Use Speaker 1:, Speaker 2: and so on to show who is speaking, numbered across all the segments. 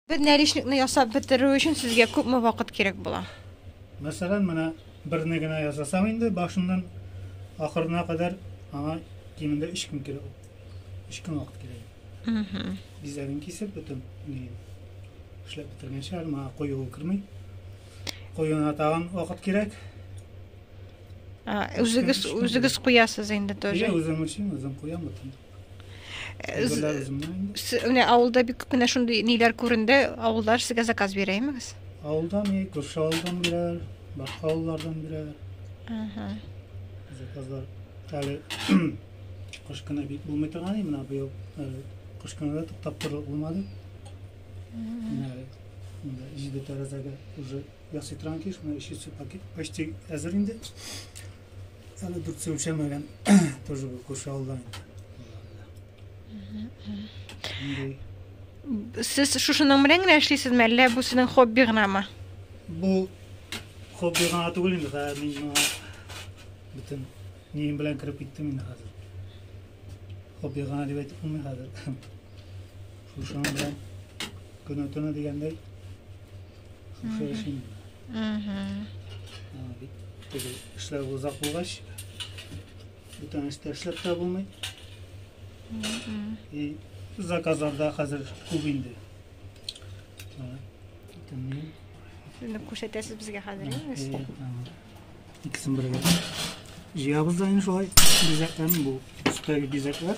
Speaker 1: Бер нәришникны ясап бетерү өчен сезгә күпме вакыт кирәк була? Мәсәлән, менә берне генә ясасам инде, башыннан ахырына кадәр аңа кимендә 3 көн кирәк. 3 көн вакыт кирәк. Бизәген кисеп бөтен ни эшләп бетергәнче әле моңа куюы керми. Куюына тагын вакыт кирәк. Үзегез үзегез куясыз инде тоже. Иә, үзем өчен үзем куям бөтен. Менә авылда бик күп кенә шундый ниләр күренде. Авыллар сезгә заказ бирә имегез? Авылда ни, күрше авылдан бирәләр, башка авыллардан бирәләр. Ага. Заказлар. Әле кыш көне бик булмый торган менә быел кыш көне дә туктап торырлык булмады. Менә җиде тәрәзәгә уже ясый торган киш, менә өченче пакет почти әзер инде. Әле дүрт су үлчәмәгән, тоже бу күрше авылдан. Сез шушының белән генә эшлисезме, әллә бу сезнең хобби гынамы? Бу хобби гына түгел инде, хәзер мин моңа бөтен нием белән кереп киттем инде хәзер. Хобби гына дип әйтеп булмый хәзер. Шушының белән көне-төне дигәндәй Шушы эшем Эшләр узак булгач, бүтән эштә эшләп тә булмый. И заказларда хәзер күп инде. Шуны күрсәтәсез безгә хәзер, инде. Икесен бергә. Җыябыз да инде шулай. Бизәкләрне бу. Өстәге бизәкләр.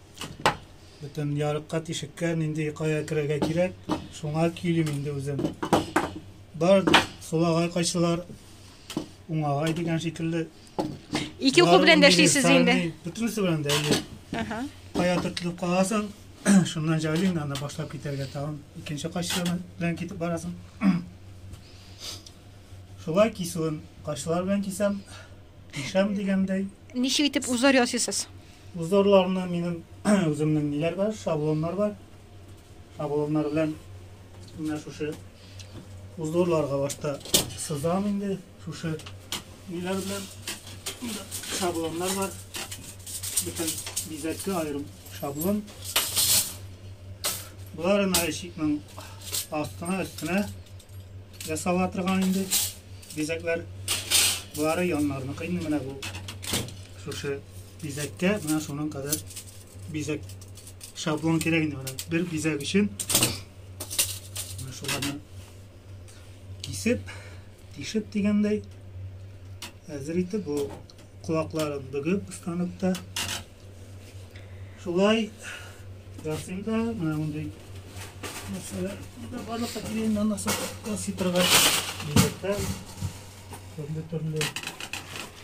Speaker 1: Бөтен ярыкка тишеккә нинди кая керергә кирәк, шуңа килим инде үзем. Бар сулагай кайсылар уңагай дигән шикелле. Ике уку белән дә эшлисез инде. Бөтенесе белән дә. Ага. Кая тотып каласың, шуннан җайлыйм, анда башлап китәргә тагын. Икенче кайсы белән китеп барасың. Шулай кисүен кайсылар белән кисәм, кисәм дигәндәй. Ничек итеп узар ясыйсыз? Үз даруларымны минем үземнең ниләр бар, шаблоннар бар. Шаблоннар белән менә шушы үз даруларга башта сызам инде. Шушы ниләр белән шаблоннар бар. Бөтен бизәккә аерым шаблон. Боларын айчикның астына өстенә ясала торган инде бизәкләр. Болары яннарны кыйны менә бу. Шушы бизәккә менә шуның кадәр бизәк шаблон кирәк инде менә бер бизәк өчен менә шуларны кисеп тишеп дигәндәй әзер итеп ул колакларын бөгеп станокта шулай ясыйм да менә мондый нәрсәләр барлыкка килгән аннан соң ясый торган бизәкләр төрле төрле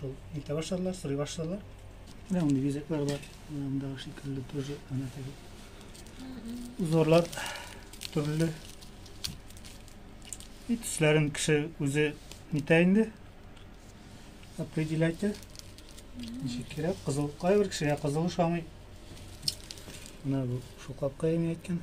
Speaker 1: Шул илтә башладылар, сорый башладылар. Менә мондый бизәкләр бар. Монда шикелле тоже ана теге. Узорлар төрле. И төсләрен кеше үзе нитә инде. Определять. Ничек кирәк? Кызыл кайбер кешегә кызыл ошамый. Менә бу шул капка әйткән.